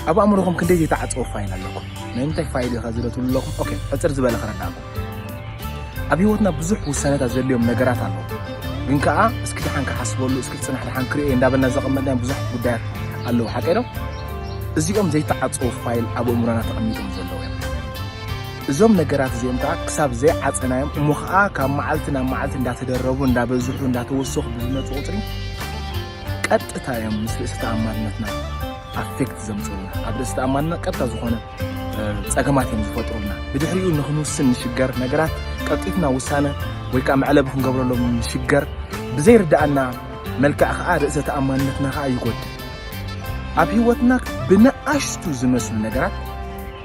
ኣብ ኣእምሮኹም ክንደይ ዘይተዓጸወ ፋይል ኣለኩም? ናይ ምንታይ ፋይል ኢኻ እዚ ዶ ትብሉ ኣለኹም? ኦኬ ሕጽር ዝበለ ክረዳእኩም። ኣብ ህይወትና ብዙሕ ውሳነታት ዘድልዮም ነገራት ኣለዉ። ግን ከኣ እስኪ ደሓን ክሓስበሉ፣ እስኪ ጽናሕ ደሓን ክርእየ እንዳበልና ዘቐመጥናዮም ብዙሓት ጉዳያት ኣለዉ። ሓቀይ ዶ? እዚኦም ዘይተዓጸዉ ፋይል ኣብ ኣእምሮና ተቐሚጦም ዘለዉ እዮም። እዞም ነገራት እዚኦም ከኣ ክሳብ ዘይዓጸናዮም እሞ ከኣ ካብ መዓልቲ ናብ መዓልቲ እንዳተደረቡ እንዳበዝሑ እንዳተወሰኹ ብዝመጹ ቁጽሪ ቀጥታ እዮም ምስ ርእሲ ተኣማንነትና ኣፌክት ዘምፅኡልና ኣብ ርእሲ ተኣማንነት ቀጥታ ዝኾነ ፀገማት እዮም ዝፈጥሩልና ብድሕሪኡ ንክንውስን ንሽገር ነገራት ቀልጢፍና ውሳነ ወይ ከዓ መዕለቢ ክንገብረሎም ንሽገር ብዘይርዳእና መልክዕ ከዓ ርእሰ ተኣማንነትና ከዓ ይጎድል ኣብ ህይወትና ብንኣሽቱ ዝመስሉ ነገራት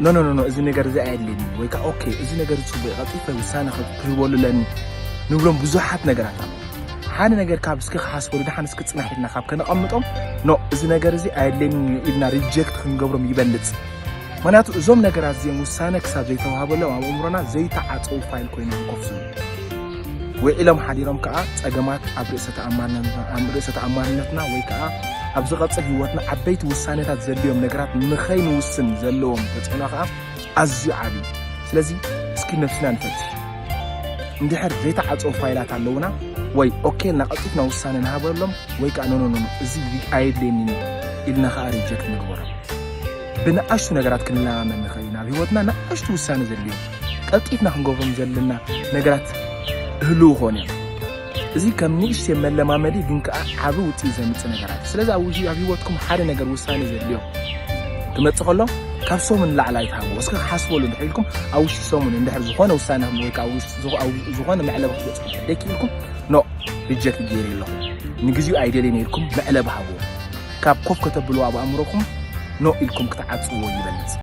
ኖኖኖኖ እዚ ነገር እዚ ኣየድልየኒ ወይ ከዓ ኦኬ እዚ ነገር ፅቡቅ ቀልጢፈ ውሳነ ክህበሉ ኣለኒ ንብሎም ብዙሓት ነገራት ኣሎ ሓደ ነገር ካብ እስኪ ክሓስበሉ ድሓን እስኪ ፅናሕ ኢልና ካብ ከነቐምጦም ኖ እዚ ነገር እዚ ኣየድልየንን እዩ ኢልና ሪጀክት ክንገብሮም ይበልፅ ምክንያቱ እዞም ነገራት እዚኦም ውሳነ ክሳብ ዘይተዋሃበሎም ኣብ ኣእምሮና ዘይተዓፀው ፋይል ኮይኖም ኮፍ ዝብሉ ውዒሎም ሓዲሮም ከዓ ፀገማት ኣብ ርእሰ ተኣማንነትና ወይ ከዓ ኣብ ዝቐፅል ህይወትና ዓበይቲ ውሳኔታት ዘድልዮም ነገራት ንኸይንውስን ዘለዎም ተፅዕኖ ከዓ ኣዝዩ ዓቢ እዩ። ስለዚ እስኪ ነብስና ንፈትሽ። እንድሕር ዘይተዓጽወ ፋይላት ኣለዉና ወይ ኦኬ ኢልና ቀልጢፍና ውሳነ ንሃበሎም ወይ ከኣ ኖኖኖኖ እዚ ኣየድልየኒን እዩ ኢልና ከኣ ሪጀክት ንግበሮ። ብንኣሽቱ ነገራት ክንለማመድ ንኽእል ኢና። ኣብ ህይወትና ንኣሽቱ ውሳነ ዘድልዮም ቀልጢፍና ክንገብሮም ዘለና ነገራት ህልው ክኾኑ እዮም። እዚ ከም ንእሽተይ መለማመዲ ግን ከኣ ዓቢ ውጽኢት ዘምጽእ ነገራት እዩ። ስለዚ ኣብ ኣብ ህይወትኩም ሓደ ነገር ውሳኔ ዘድልዮ ክመጽእ ከሎ ካብ ሰሙን ንላዕሊ ኣይትሃብዎ። እስከ ክሓስበሉ እንድሕር ኢልኩም ኣብ ውሽጢ ሰሙን እንድሕር ዝኾነ ውሳኔ ወይ ከኣ ኣብ ዝኾነ መዕለቢ ክትበጽሑ እንድሕር ደይክኢልኩም ኖእ ሪጀክት ገይረ ኣለኹ ንግዚኡ ኣይደልየን ኢልኩም መዕለቢ ሃብዎ። ካብ ኮፍ ከተብልዎ ኣብ ኣእምሮኹም ኖእ ኢልኩም ክትዓጽዎ ይበልጽ።